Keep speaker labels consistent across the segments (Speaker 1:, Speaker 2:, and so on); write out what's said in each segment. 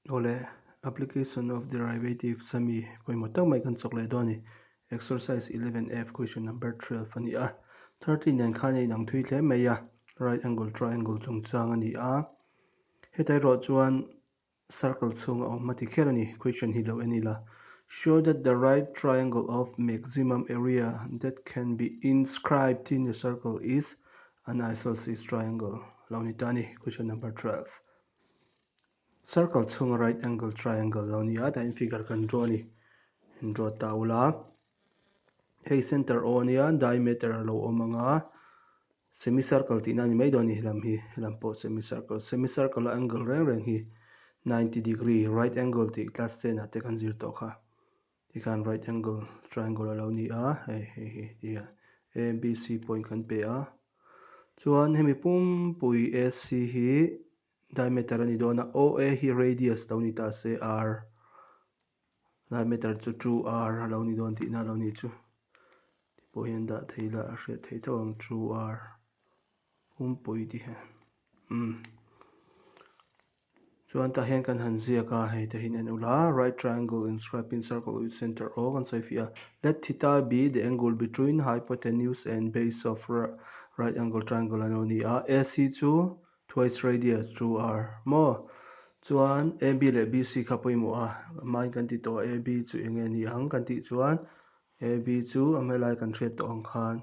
Speaker 1: Awle, application of derivatives ami pawimawh tak mai kan chawk leh dawn a ni. Exercise 11F, question number 12 a ni a. 13 hian khan a inang thui hle mai a, right angle triangle chungchang a ni a. Hetia erawh chuan circle chhunga awm a ti kher a ni, question hi lo en ila. Show that the right triangle of maximum area that can be inscribed in a circle is an isosceles triangle, lo ni ta a ni, question number 12. circle chhunga right angle triangle lo ni a tain figure kan draw a ni in draw ta ula hei center aw ania diameter a lo awm ang a semi circle tihna a ni mai dawn a ni lam hi lam pawh semi circle semi circle a angle reng reng hi ninety degree right angle tih class ten ah te kan zir tawh kha. Ti khan right angle triangle a lo ni a, hei hei hi ti hian a and b c point kan pe a, chuan hemi pumpui a c hi diameter a ni dawn a, o a hi radius lo ni ta se r diameter chu two r a lo ni dawn tihna a lo ni chu, ti pawh hian dah thei lah a hriat theih tho ang two r. Pumpui te hian umm chuan tah hian kan han ziak a, hei te hian en ula, Right triangle inscribed in circle with centre O kan sawi fih a, Let theta be the angle between hypotenuse and base of right angle triangle ano ni a, AC chu twice radius 2R maw? Chuan AB leh BC kha pawimawh a, amahin kan ti tawh a AB chu enge ni ang kan tih chuan AB chu a hma lai kan hriat tawh ang khan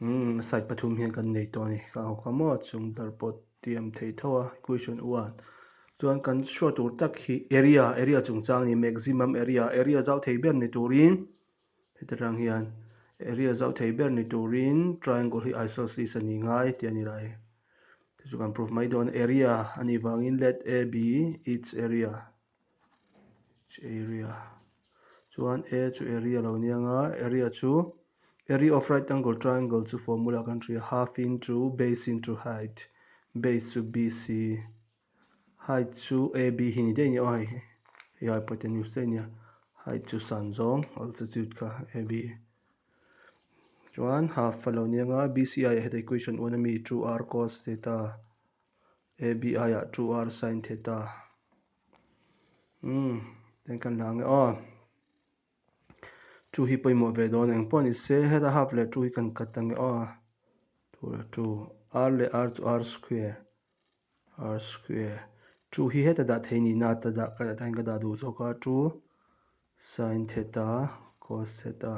Speaker 1: Umm side pathum hian kan nei tawh a ni ka hawk a maw chung ber pawt tiam thei tho a question u a chuan kan hriat tur tak hi area area chung chang a ni maximum area area zau thei ber ni turin heti tang hian area zau thei ber ni turin triangle hi isosceles a ni ngai tih a ni lah e chu chu kan proof mai dawn a area a ni vangin let a be its area. area chuan a chu area lo aniang a area chu area of right angle triangle chu formula ah kan hria half into base into height base chu b c height chu a b hi ni daih a ni aw heihi hei a hypotenuse daih a nia height chu san zawng altitude kha a b chuan half a lo aniang a b c aiah hian equation un ami two r cos theta -- ABI ah two R Sine Theta umm eng kan la nge aw two hi pawimawh ve dawn eng pawh ani se heta half leh two hi kan cut ta nge aw two leh two R leh R chu R square R square two hi heta dah thei nihna ata dah ka dah tain ka dah duh zawk a two Sine Theta cos Theta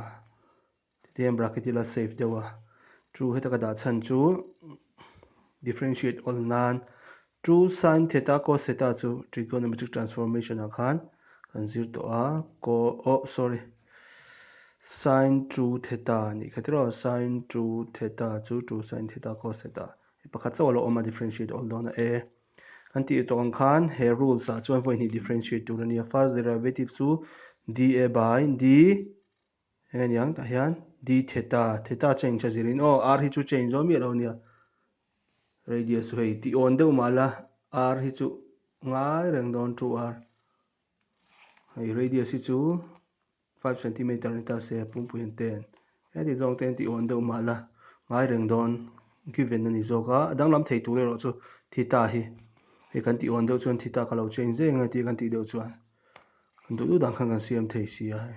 Speaker 1: Hetiang bracket hi la save deuh a, two heta ka dah chhan chu differentiate awl nan two sin theta cos theta chu trigonometric transformation ah khan kan zir tawh a, co oh sorry sin two theta a nih kha tiraw, sin two theta chu two sin theta cos theta hei pakhat chauh a lo awm a differentiate awl dawn a e. Kan tih tawh ang khan he rules ah chuan vawi hnih differentiate tur a nia first derivative chu dA by d Heniang tah hian di theta, theta cheng tha zir in, aw, ar hi chu cheng zawm miah lo nia, radius chu hei, tih awn deuh mah la, ar hi chu ngai reng dawn two ar, hei radius hi chu five centimetre ni ta se, pumpu hian ten, heti zawng te hian tih awn deuh mah la, ngai reng dawn given a ni zawk a, a danglam thei tur erawh chu theta hi, hei kan tih awn deuh chuan theta ka lo cheng zeng eng a tih kan tih deuh chuan, kan duh duh dan khan kan siam thei si a hei.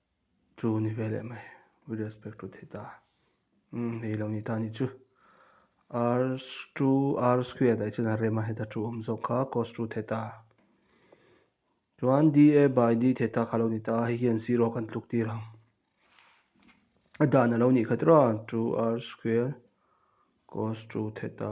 Speaker 1: Chu ni ve leh mai. With respect to thei ta. Umm hei lo ni ta ni chu. R chu R square daih chhan a rem a heta chu awm zawk kha cos chu thei ta. Chuan dA by D thei ta kha lo ni ta. Hei hian zero a kan tluk tir ang. A dan a lo ni khat rawh a chu R square cos chu thei ta.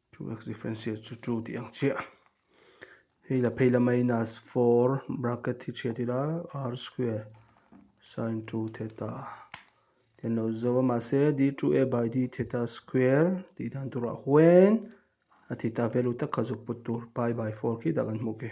Speaker 1: Two x difference hi chu two tih ang chiah. Hei la phei la minus four bracket hi chhiat ila r square sin two theta ten lo zo a mah se d two a by d theta square tih dan turah huain a theta value tak kha zuk put tur pi by four khi dah kan hmu ke.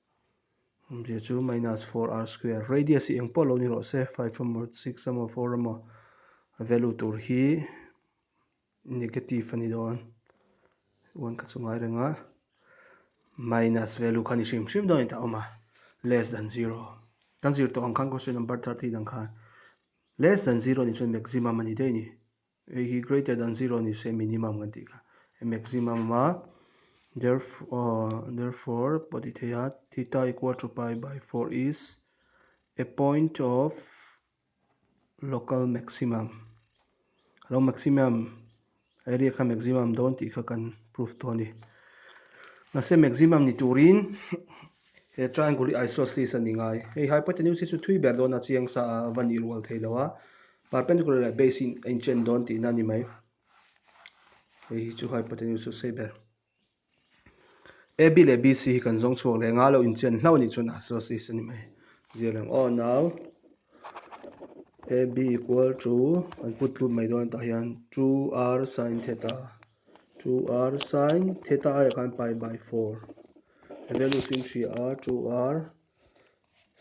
Speaker 1: Awmzia chu minus four R square. Radius hi eng pawh lo ni rawh se, five emaw, six emaw, four emaw, a value tur hi negative a ni dawn. One kha chu ngai reng a. Minus value kha ni hrim hrim dawn a ni ta awm a. Less than zero. Kan zir tawh ang khan question number thirteen ang khan. Less than zero ni chuan maximum a ni daih a ni. Ei hi greater than zero ni se minimum kan tih kha a maximum a therefore therefore pawh ti thei a theta equal to pi by four is a point of local maximum lo maximum area kha maximum dawn tih kha kan proof tawh a ni mahse maximum ni turin he triangle hi isosceles a ni ngai hei hypotenuse hi chu thui ber dawn a chiang sa a va nih rual thei lo a Perpendicular leh base hi a inchen dawn tihna a ni mai. Hei hi chu hypotenuse chu sei ber. AB leh BC hi kan zawng chhuak leh nga lo inchen hlau nih chuan isosceles a ni mai. Zirlem aw nau AB equal to kan put lut mai dawn atah hian 2R sin theta 2R sin theta a leh khan pi by 4 he value chu in hria a 2R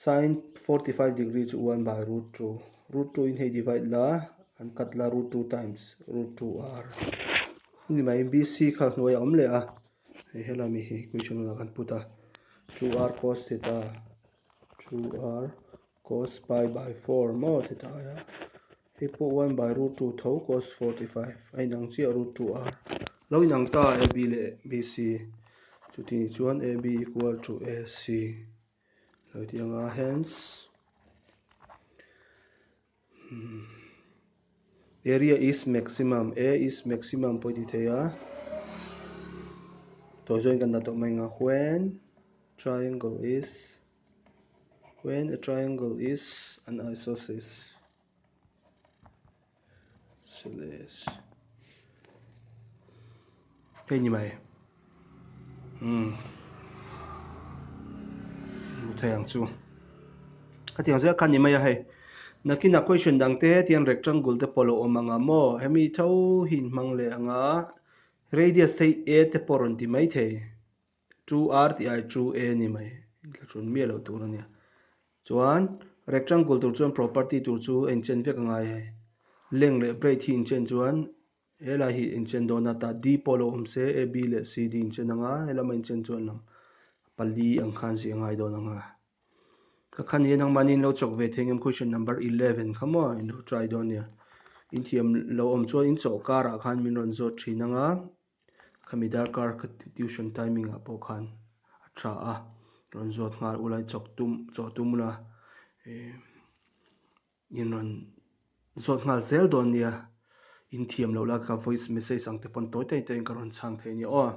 Speaker 1: Sin forty five degree chu one by root two. Root two in hei divide la an cut la root two times root two r. Hemi mai BC kha hnuai a awm leh a. Hei hela mi hi equation lamah kan put a. two r cos theta two r cos pi by four maw theta a nia. Hei pawh one by root two tho cos forty five a inang chiah root two r. Lo inang ta a AB leh BC. Chutini chuan AB equal to AC. Hlui tih anga hands Area is maximum A is maximum pawh i ti thei a Tawh zawin kan dah tawh mai anga when triangle is when a triangle is an isosceles Celeste. Hei ni mai. Hmm. Muthei ang chu. Ka tiang zia ka ni mai a hei. Nakina question dang te tian rectangle te polo om anga mo hemi tho hin hmang leh anga radius thei a te pawh rawn ti mai thei. chu ar tih ai chu a ni mai thla chhun miah loh tur a nia chuan rectangle tur chuan property tur chu a in chen vek a ngai ai length leh breadth hi in chen chuan he lai hi in chen dawn ata d pawh lo awm se a b leh c d in chen ang a he lama in chen chuan lam pali ang khan zia ngai dawn ang a ka khan hi nang manin lo chawk ve thei ngam question number eleven kha maw in lo try dawn nia inthiam lo awm chuan in chawhkar ah khan min rawn zawt thin ang a Khami darkar ka ti tuition timing ah pawh khan a tha a, rawn zawt nghal ulai chawk tum chawh tum ula in rawn zawt nghal zel dawn nia in thiam loh la ka voice message ang te pawn tawi taiin ka rawn chhang thei nia aw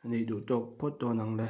Speaker 1: a nei duh tawk phawt dawn ang le.